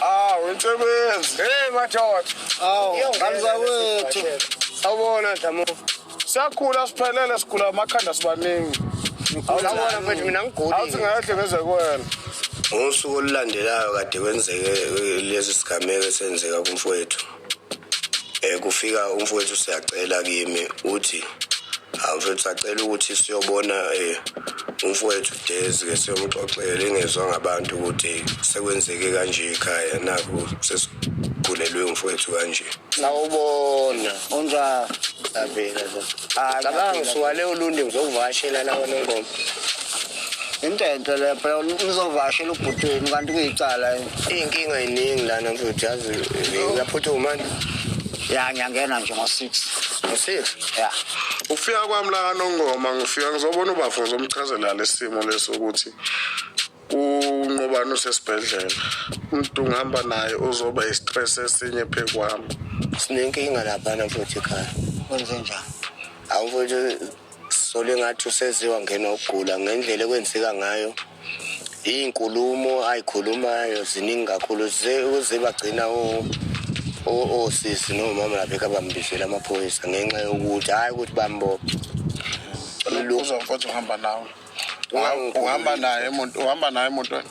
Awensebenzi. Hey madoda. Awu, ngamzawethu. Sawubona Dlamuka. Siyakhula siphelele sigula amakhanda sibaningi. Sawubona mfethu mina ngigulile. Awuthi ngeke ngeze kuwena. Ngosuku olulandelayo kade kwenzeke lezi sigameko esenzeka kumfowethu. Eh kufika umfowethu siyacela kimi uthi awufethu sacela ukuthi siyobona eh umfowethu Dezi ke siyomxoxela ingezwa ngabantu ukuthi sekwenzeke kanje ekhaya nakho sesigulelwe umfowethu kanje sawubona onja Abela. Cabanga usuwale ulundi ngizokuvashela la wena ngoma. into enhle le phela nizovashela ubhuti wenu kanti kuyicala iy'nkinga yiningi lana futhi yazi uyaphuthuma ya ngiyangena nje ngo-six ngo-six ya ukufika kwami la kanongoma ngifika ngizobona ubafo ngizomchazela lesimo leso ukuthi unqobani usesibhedlela umuntu ngihamba naye uzoba i-stress esinye phezu kwami sinenkinga laphana futhi ekhaya kwenze njani awufuthi Sisole engathi usenziwa ngena ukugula ngendlela ekwenzeka ngayo iy'nkulumo ay'khulumayo ziningi kakhulu uze bagcina osisi nomama labekho abambizela amaphoyisa ngenxa yokuthi hhayi ukuthi bambophe uzomfotha uhamba nawe uhamba naye uhamba naye emotweni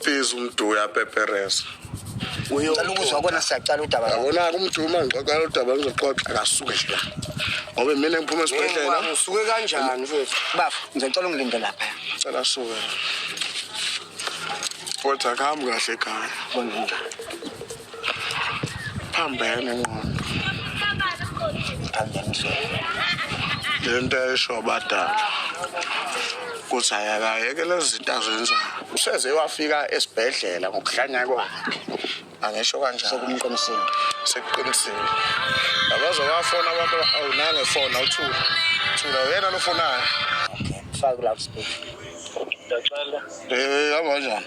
Please umdu uyapepereza. Ngicela ukuzwa kona siyaqala udaba. Yabona kumduma ngixoxela udaba ngizoxoxa kasuke nje. Ngoba mina ngiphuma esibhedlela. Ngisuke kanjani futhi? Bafo, ngicela ungilinde lapha. Cela suke. Futhi akahambi kahle ekhaya. Bonke. phambene ingqondo le nto esho abadala ukuthi ayakayeke lezi zinto azenzayo useze wafika esibhedlela ngokuhlanya kwakhe angisho kanjalo sokumqinisile sekuqinisile abaze bafona abantu awunange fona uthula thula uyena lofonayo fake la sibhedlela ndiyacela eh hamba njani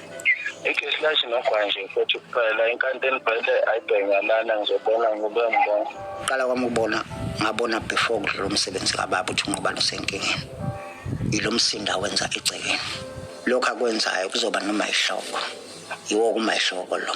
ikhesi lathi nogwa nje futhi kuphela inkanti enibhele ayibhengalana ngizobona ngube ngibona qala kwami ukubona ngabona before kudlula umsebenzi kababa ukuthi ungubani usenkingeni yilo msindo awenza egcekeni lokhu akwenzayo kuzoba noma ihloko yiwo kumayihloko lo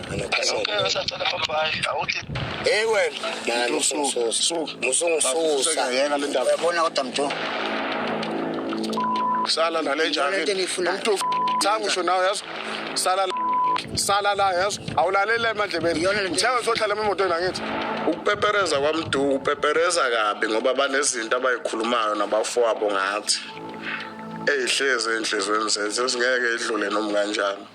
Hey wena, nani ususa. Musungususa. Yena le ndaba. Yabona kodwa mtu. Sala nale njani? Mtu thangu sho nawe yazi. Sala sala la yazi. Awulalele emandlebeni. Ngithenga uzohlala emotweni angithi. Ukupepereza kwamduku upepereza kabi ngoba banezinto abayikhulumayo nabafowabo ngathi. Eyihleze enhlizweni zethu singeke idlule noma kanjani.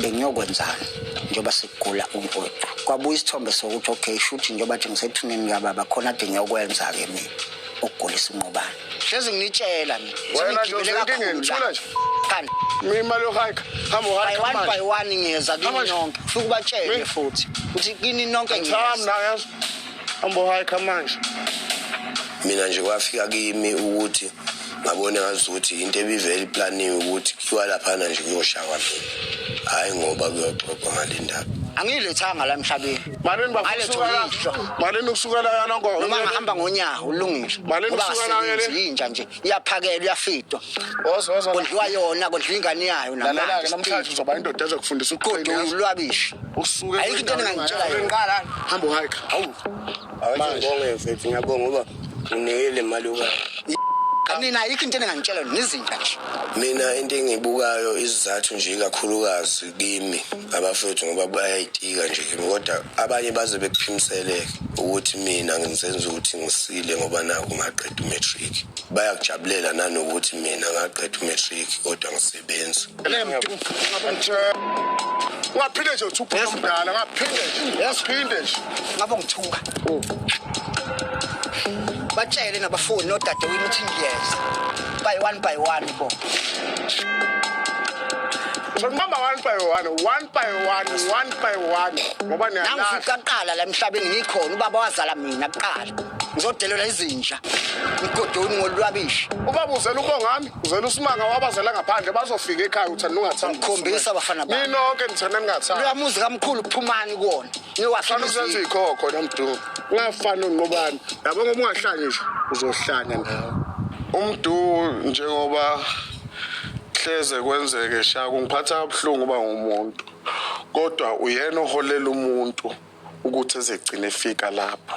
bengiyokwenzani njengoba sekugula umfowethu kwabuya isithombe sokuthi okay shuthi njengoba nje ngisethuneni kababa khona ade ngiyokwenza-ke mina ukugulisa unqobane hlezi nginitshela mina kanti imali yohayikha hamba by one by one ngiyeza kini nonke fika ubatshele futhi ukuthi kini nonke ngiyeza hamba uhayikha manje mina nje kwafika kimi ukuthi ngabona ngazukuthi into ebivele iplaniwe ukuthi kuthiwa laphana nje kuyoshaywa mina hhayi ngoba kuyoxoxwa ngale ndaba angiyilethanga la emhlabeni malini bakusukamalini ukusukela yana ngoba noma ngahamba ngonyawo ulungile malini ukusukela yinja nje iyaphakelwa iyafidwa kondliwa yona kondliwa ingane yayo namanje namhlanje uzoba indoda ezokufundisa uqodo ulwabishi usuke ayikho into engangitshela yona hamba uhike hawu Ngibonge mfethu ngiyabonga ngoba unikele imali uka mina ayikho into engangitshela yona ngizinja nje mina into engibukayo isizathu nje ikakhulukazi kimi abafethu ngoba bayayitika nje kimi kodwa abanye baze bekuphimiseleke ukuthi mina ngizenza ukuthi ngisile ngoba naku ngaqeda umatric bayakujabulela nanokuthi mina ngaqeda umatric kodwa ngisile benzi ungaphinde nje uthi uphuma mdala ngaphinde nje yasiphinde nje ngabe ngithuka batshele nabafuni nodadewini ukuthi ngiyeza by one by one bo Ngibamba one by one, one by one, one by one. Ngoba niyalazi. Nangifika kuqala la emhlabeni ngikhona ubaba wazala mina kuqala. Ngizodelela izinja. Ngigodoni ngolwabishi. Ubaba uzela ubongami. Uzela usimanga wabazela ngaphandle bazofika ekhaya uthanda ungathanda. Ngikhombisa abafana bami. Nini nonke nithanda ningathanda. Leya muzi kamkhulu phumani kuwona. Niwahlala uzenza ikhokho nomdumo. Ungafani unqobani. Yabo ngoba ungahlanya nje uzohlanya nawe. Umdu njengoba hleze kwenzeke sha kungiphatha kabuhlungu uba ngumuntu kodwa uyena oholela umuntu ukuthi ezegcine efika lapho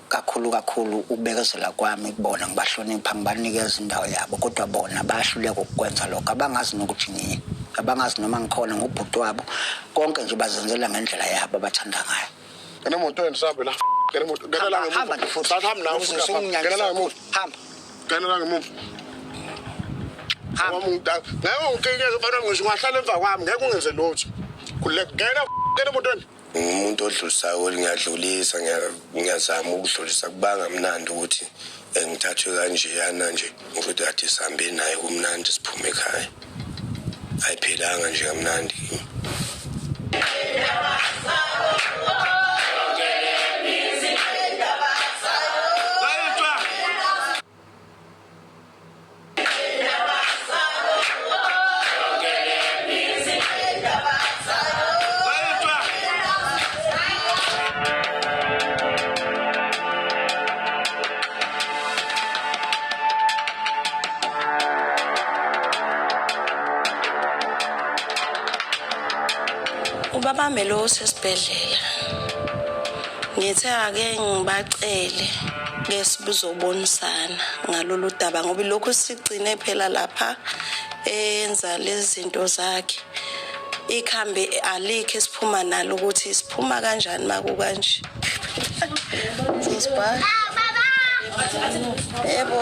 kakhulu kakhulu ukubekezela kwami kubona ngibahlonipha ngibanikeza indawo yabo kodwa bona bayahluleka ukukwenza lokho abangazi nokuthi ngiye abangazi noma ngikhona ngubhuti wabo konke nje bazenzela ngendlela yabo abathanda ngayo enemoto endisahambe la ngenemoto ngenela ngemuva sahambe nawe ngenela ngemuva hamba ngenela ngemuva hamba umntaka ngeke ungikike kufanele ngisho ungahlala emva kwami ngeke ungenze lutho kulekugena enemotweni ngimuntu odlulisayo ukuthi ngiyadlulisa ngiyazama ukudlulisa kubanga mnandi ukuthi eh, ngithathwe kanjeyana nje ukuthi kade sihambe naye kumnandi siphume ekhaya ayiphilanga nje kamnandi kimi ubabambe lo usesibhedlela Ngithe ake ngibacele bese buzobonisana ngalolu daba ngoba ilokhu sigcine phela lapha enza lezi zinto zakhe ikhambi alikho esiphuma nalo ukuthi siphuma kanjani makukanje sisibha yebo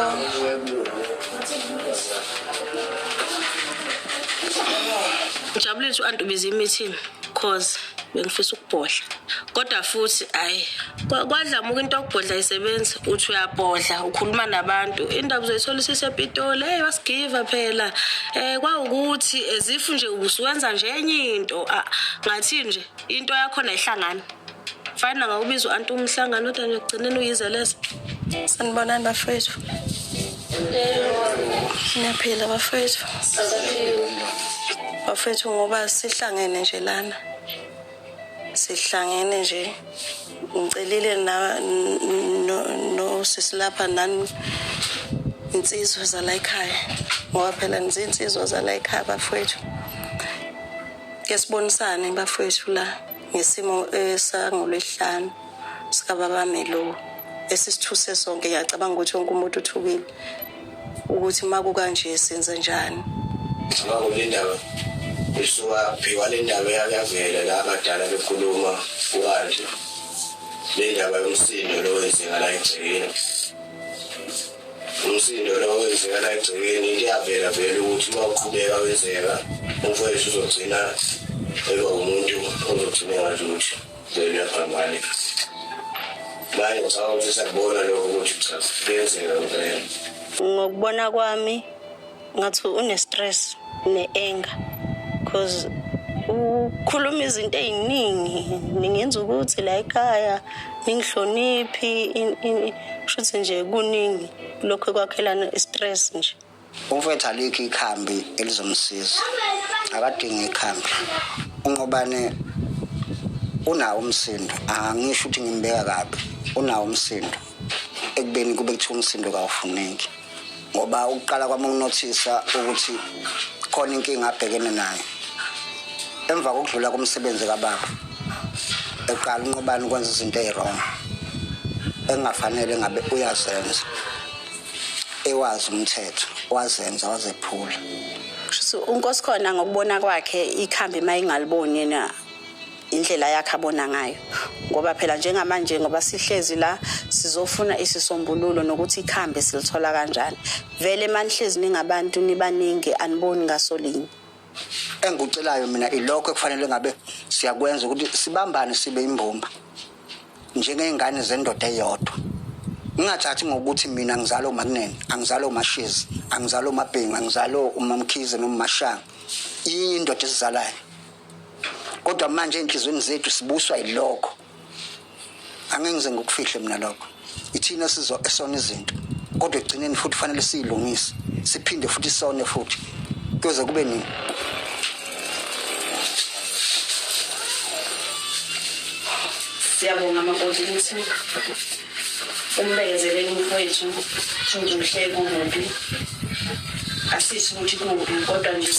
ujabuliswa antu bizimithini cause bengifisa ukubhodla kodwa futhi ayi kwadlamuka into yokubhodla isebenzi uthi uyabhodla ukhuluma nabantu indaba uzoyithola isisepitoli hey wasigiva phela um kwawukuthi ezifu nje usuwenza nje enye into ngathini nje into yakhona ihlangana Mfana ngawubiza u-anti umhlangano kodwa ngiyokugcineni uyizeleza. Sanibonani bafowethu. Niyaphila bafowethu. Bafowethu ngoba sihlangene nje lana. Sihlangene nje. Ngicelile na no, no sisilapha nani insizwa zala ekhaya. Ngoba phela nizinsizwa zala ekhaya bafowethu. Ke sibonisane bafowethu la. ngesimo eh, sangolwesihlanu sikababa Melo esisithuse sonke ngiyacabanga ukuthi wonke umuntu uthukile ukuthi uma kukanje senze njani ngicabanga kule ndaba isuka phikwa le ndaba yakuyavela la abadala bekhuluma kukanje le ndaba yomsindo lo wenzeka la egcekeni umsindo lo wenzeka la egcekeni kuyavela vele ukuthi uma uqhubeka wenzeka umfowethu uzogcina eba umuntu ozogcina engalutho vele uyaphambane manje ngicabanga ukuthi sakubona lokho ukuthi cha kuyenzeka ngokubona kwami ngathi une-stress ne-anger because ukhuluma izinto ey'ningi ningenza ukuthi la ekhaya ningihloniphi shuthi nje kuningi lokhu ekwakhelana i-stress nje umfethu alikho ikhambi elizomsiza akadingi ikhambi unqobane unawo umsindo angisho ukuthi ngimbeka kabi unawo umsindo ekubeni kube kuthiwa umsindo kawufuneki ngoba ukuqala kwami ukunothisa ukuthi khona inkinga abhekene nayo emva kokudlula komsebenzi kababa eqala unqobani ukwenza izinto eziwrong engafanele ngabe uyazenza ewazi umthetho wazenza wazephula so unkosi khona ngokubona kwakhe ikhambi uma ingaliboni yena indlela yakhe abona ngayo ngoba phela njengamanje ngoba sihlezi la sizofuna isisombululo nokuthi ikhambe silithola kanjani vele manihlezi ningabantu nibaningi aniboni ngaso linye engikucelayo mina ilokho ekufanele ngabe siyakwenza ukuthi sibambane sibe imbumba njengey'ngane zendoda eyodwa ngingathathi ngokuthi mina ngizalo umakunene angizalo umashizi angizalo umabhengu angizalo umamkhize nomashanga inye indoda esizalayo kodwa manje enhlizweni zethu sibuswa yilokho angeke ngize ngikufihle mina lokho ithina sizo esona izinto kodwa ekugcineni futhi fanele siyilungise siphinde futhi sone futhi kuyoze kube nini siyabonga makoti ukuthi umbekezelele umfowethu futhi uhleke kubi asisho ukuthi kubi kodwa nje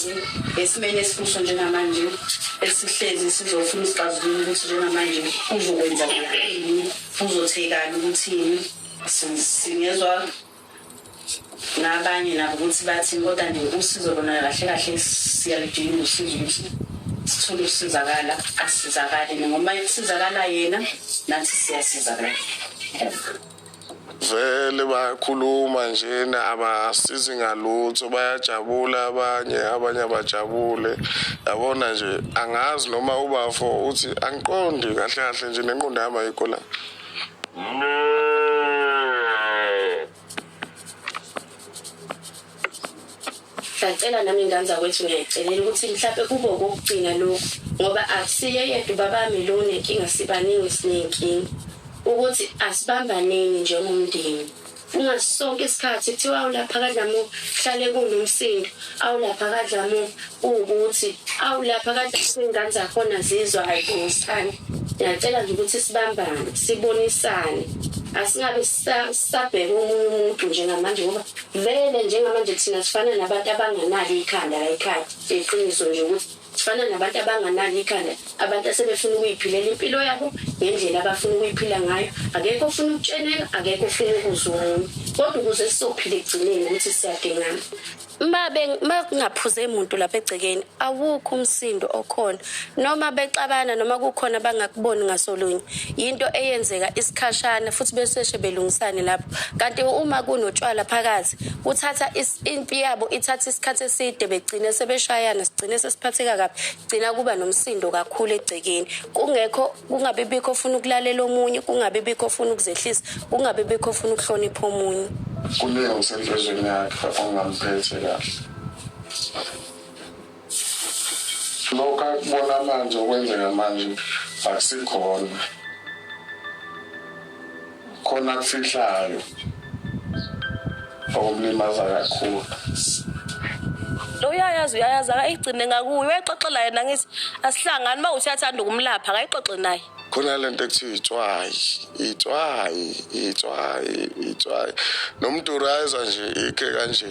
esimeni esikuso njengamanje esihlezi sizofuna isixazululo ukuthi njengamanje uzokwenza kuthini uzothekani ukuthini singezwa nabanye nabo ukuthi bathini kodwa nje usizo lona kahle kahle siyaludinga usizo ukuthi sithole ukusizakala asizakale noma kusizakala yena nathi siyasizakala vele bayakhuluma njena abasizi ngalutho bayajabula abanye abanye abajabule yabona nje angazi noma ubafo uthi angiqondi kahle kahle nje nenqondo yami ayikho la ngiyacela nami ingane zakwethu ngiyayicelela ukuthi mhlawumbe kube okokugcina lokhu ngoba akusiye yedwa ubabami lo nenkinga sibaningi sinenkinga ukuthi asibambaneni njengomndeni Kungaso sonke isikhathi kuthiwa awu lapha kaDlamuka kuhlale kunomsindo, awu lapha kaDlamuka kuwukuthi, awu lapha kaDlamuka iy'ngane zakhona zizwa hhayi Phumzisani. Ngiyacela nje ukuthi sibambane, sibonisane. Asingabe sisa- sisabheka omunye umuntu njengamanje ngoba vele njengamanje thina sifana nabantu abanganalo ikhanda la ekhaya. Iqiniso nje ukuthi Sifana nabantu abanganalo ikhanda, abantu asebefuna ukuyiphilela impilo yabo ngendlela abafuna ukuyiphila ngayo. Akekho ofuna ukutsheneka, akekho ofuna ukuzwa omunye. Kodwa ukuze sizophila ekugcineni ukuthi siyadingana. Uma be- uma kungaphuze muntu lapha egcekeni awukho umsindo okhona noma bexabana noma kukhona abangakuboni ngasolunye yinto eyenzeka isikhashana futhi beseshe belungisane lapho kanti uma kunotshwala phakathi kuthatha is impi yabo ithatha isikhathi eside begcine sebeshayana sigcine sesiphatheka kabi gcina kuba nomsindo kakhulu egcekeni kungekho kungabe bikho ofuna ukulalela omunye kungabe bikho ofuna ukuzehlisa kungabe bikho ofuna ukuhlonipha omunye kuningi okusenhlizweni yakhe ongamphethe kahle Lokhu akubona manje okwenzeka manje akusikhona. Khona kufihlayo okumlimaza kakhulu. lo uyayazi uyayazi akayigcine ngakuye uyayixoxela yena ngithi asihlangani uma uthi athanda ukumlapha akayixoxe naye khona le nto ekuthiwa itswayi itswayi itswayi itswayi nomduru ayeza nje ikhe kanje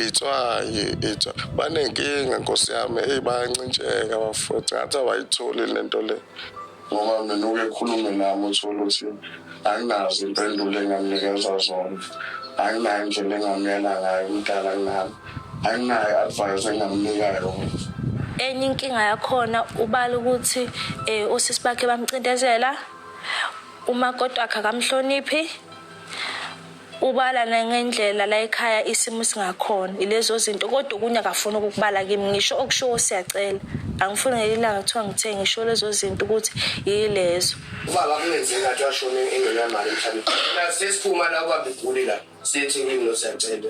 itswayi itswayi banenkinga nkosi yami eyi bayancintsheka bafo ngathi abayitholi le nto le ngoba mina uke khulume nami uthole ukuthi anginazo impendulo engamnikeza zona anginayo indlela engamyela ngayo umdala nami anginayo advice engamnika yona enye inkinga yakhona ubala ukuthi um usisi bakhe bamcindezela umakoti wakhe akamhloniphi Ubala nangendlela la ekhaya isimo singakhona ilezozinto kodwa okunye akafuni ukukubala kimi ngisho okushiwo siyacela angifuni ngelinye ilanga kuthiwa ngithe ngisho lezozinto ukuthi yilezo. Ubaba kungenzeka ngathi washona engenamali emhlabeni. Sesiphuma la ubaba egule la siye eThekwini lo siyacela.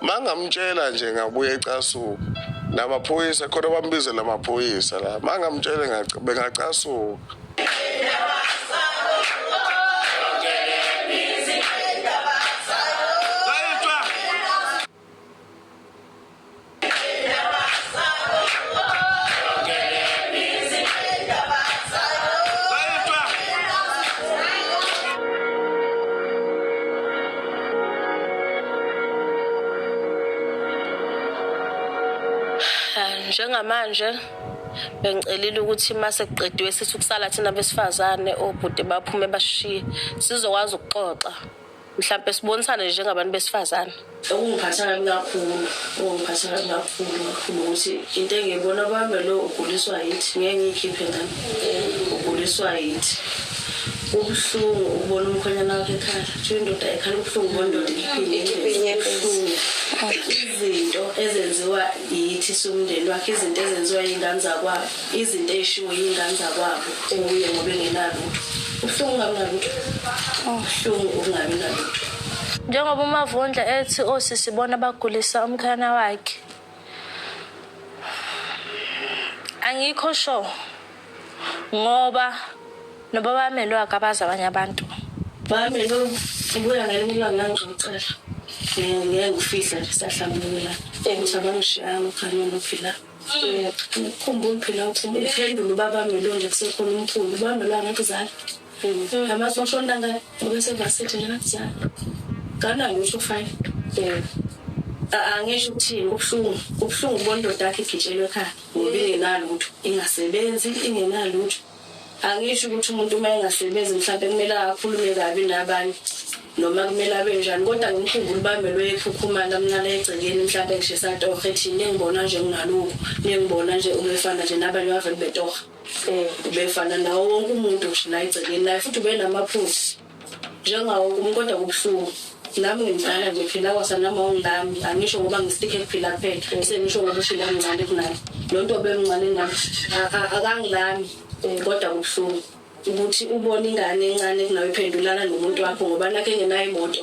mangamtshela nje ngabuye ecasuka namaphoyisa khona bambizela amaphoyisa la mangamtshele bengacasuka njengamanje bengicelile ukuthi uma sekuqediwe sithi ukusala thina besifazane obhuti baphume basishiye sizokwazi ukuxoxa mhlawumbe sibonisane njengabantu besifazane okungiphatha kabi kakhulu okungiphatha kabi kakhulu kakhulu ukuthi into engiyibona kwami lo uguliswa yithi ngeke ngiyikhiphe ngani uguliswa yithi Kubuhlungu ukubona umkhwenyana wakho ekhala. Kuthiwa indoda ayikhala ubuhlungu bondoda ikhiphe inyembezi. Kubuhlungu. Izinto ezenziwa yithi siwumndeni wakhe, izinto ezenziwa yiy'ngane zakwabo, izinto ey'shiwo yiy'ngane zakwabo kuye ngoba engenalutho. Kubuhlungu ukungabi nalutho. Kubuhlungu ukungabi nalutho. Njengoba uMavundla ethi osisi ibona abagulisa umkhwenyana wakhe. angikho sure ngoba noba bamelwe akabazi abanye abantu bami lo ngibuya ngelinye ilanga ngangizocela ngeke ngifihla nje sahlambulula ukuthi abangishiyanga ukhanye nophila khumbula phela ukuthi uphendula ubabami lo nje kusekhona umkhulu ubami lo angekuzala Amasosha ontanga obesevasithi ngakuzala nganalutho fine um angisho ukuthini kubuhlungu kubuhlungu ukubona indoda yakhe igitshelwe ekhaya ngoba ingenalutho ingasebenzi ingenalutho angisho ukuthi umuntu uma engasebenzi mhlawumbe kumele akhulume kabi nabanye noma kumele abe njani kodwa ngimkhumbula ubamelwe ekhukhumala mnala egcekeni mhlawumbe ngishisa torha ethini engibona nje nginalukho nengibona nje umefana nje nabanye bavele betoha um ubefana nawo wonke umuntu ngisho la egcekeni naye futhi ubenamaphuzi njengawo wonke umuntu kodwa kubuhlungu nami ngimdala nje phila kwasanama ungilami angisho ngoba ngisitike kuphila kuphela sengisho ngoba ushile amncane kunami lo nto obemncane nami akangilami um kodwa kubuhlungu ukuthi ubona ingane encane kunawe iphendulana nomuntu wakho ngoba nakho engenayo imoto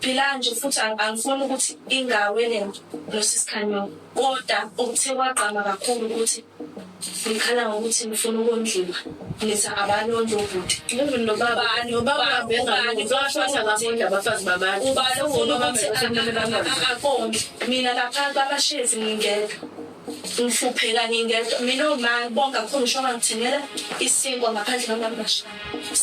Phila nje futhi angifuni ukuthi ingawe lento nosis Khanyoni koda okuthe kwagqama kakhulu ukuthi nikhala ngokuthi nifuna ukondliwa nithi abalondla ubhuti even nobaba nobaba bengani bashona ngabondla abafazi babantu ubala ukuthi akondle mina lapha babashezi ngingedwa Ngihlupheka ngingedwa mina uma bonke akukho ngisho ongangithengela isinkwa ngaphandle kwamabasha.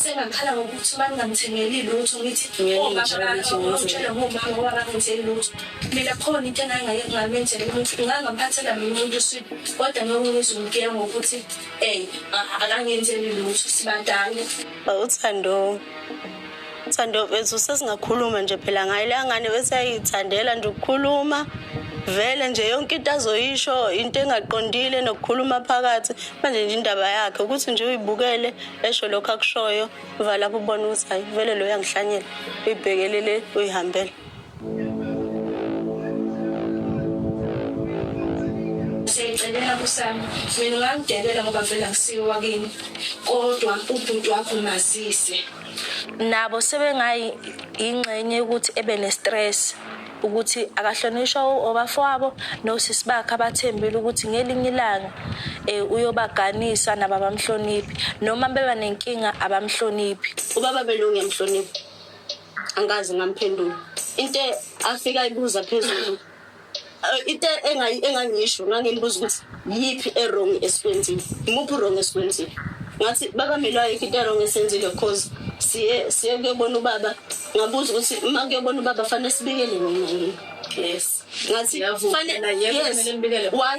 Sengakhala ngokuthi uma ningangithengeli lutho ngithi omabangitshela ngomama ngoba bangenzeli lutho. Mina khona into engangingayengingamenjela umuntu ngangamphathela mina umuntu uswidi kodwa ngiyongizwa umgiya ngokuthi um akangenzeli lutho sibadala. Uthando Thando bethu sesingakhuluma nje phela ngayo leya ngane bese yayithandela nje ukukhuluma vele nje yonke into azoyisho into engaqondile nokukhuluma phakathi manje nje indaba yakhe ukuthi nje uyibukele esho lokho akushoyo vala lapho ubona ukuthi hayi vele lo yangihlanyela uyibhekelele uyihambele siyayicelela kusami mina ungangidebela ngoba vele akusiyo wakini kodwa ubhuti wakho mazise nabo sebengayi ingxenye ukuthi ebe ne-stress ukuthi akahlonishwa obafowabo nosisi bakhe abathembile ukuthi ngelinye ilanga um uyobaganisa nabo abamhloniphi noma beba nenkinga abamhloniphi ubaba belunge mhloniphi angazi ngamphendula into afika ibuza phezulu Eh, into engayi- engangiyisho ngangimbuza ukuthi yiphi erong esikwenzile imuphi urong esikwenzile ngathi baba mina ayikho into erong esenzile because siye siye kuyobona ubaba ngabuza ukuthi uma kuyobona ubaba fanele sibikele nina yini yes ngathi Ngiyavuma, fane- naye yes kumele nibikele. why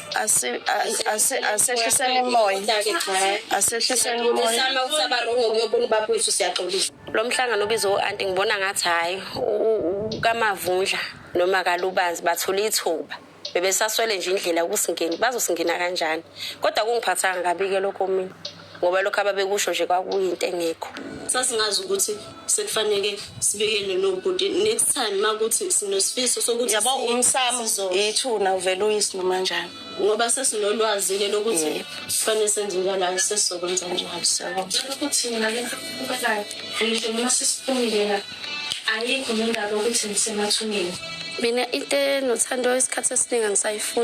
asehliseni umoya asehliseni umoya lo mhlangano ubize u-anti ngibona ngathi hhayi kamavundla noma kalubanzi bathole ithuba bebesaswele nje indlela ukusingeni bazosingena kanjani kodwa kungiphathanga kabi-ke lokho mina ngoba lokho ababekusho nje kwakuyinto engekho sasingazi ukuthi sekufanele sibikele nobhuti next time makuthi sinosifiso sokuthi yabo umsamo yethuna uvela uyisi noma njani ngoba sesinolwazi-ke lokuthi kufanele senze njalo sesizokwenza njalo siyabona ukuthi mina le nto kubekayo ngisho noma sesiphumile la ayikho nendaba ukuthi ngisemathuneni mina into enothando isikhathi esiningi angisayifuni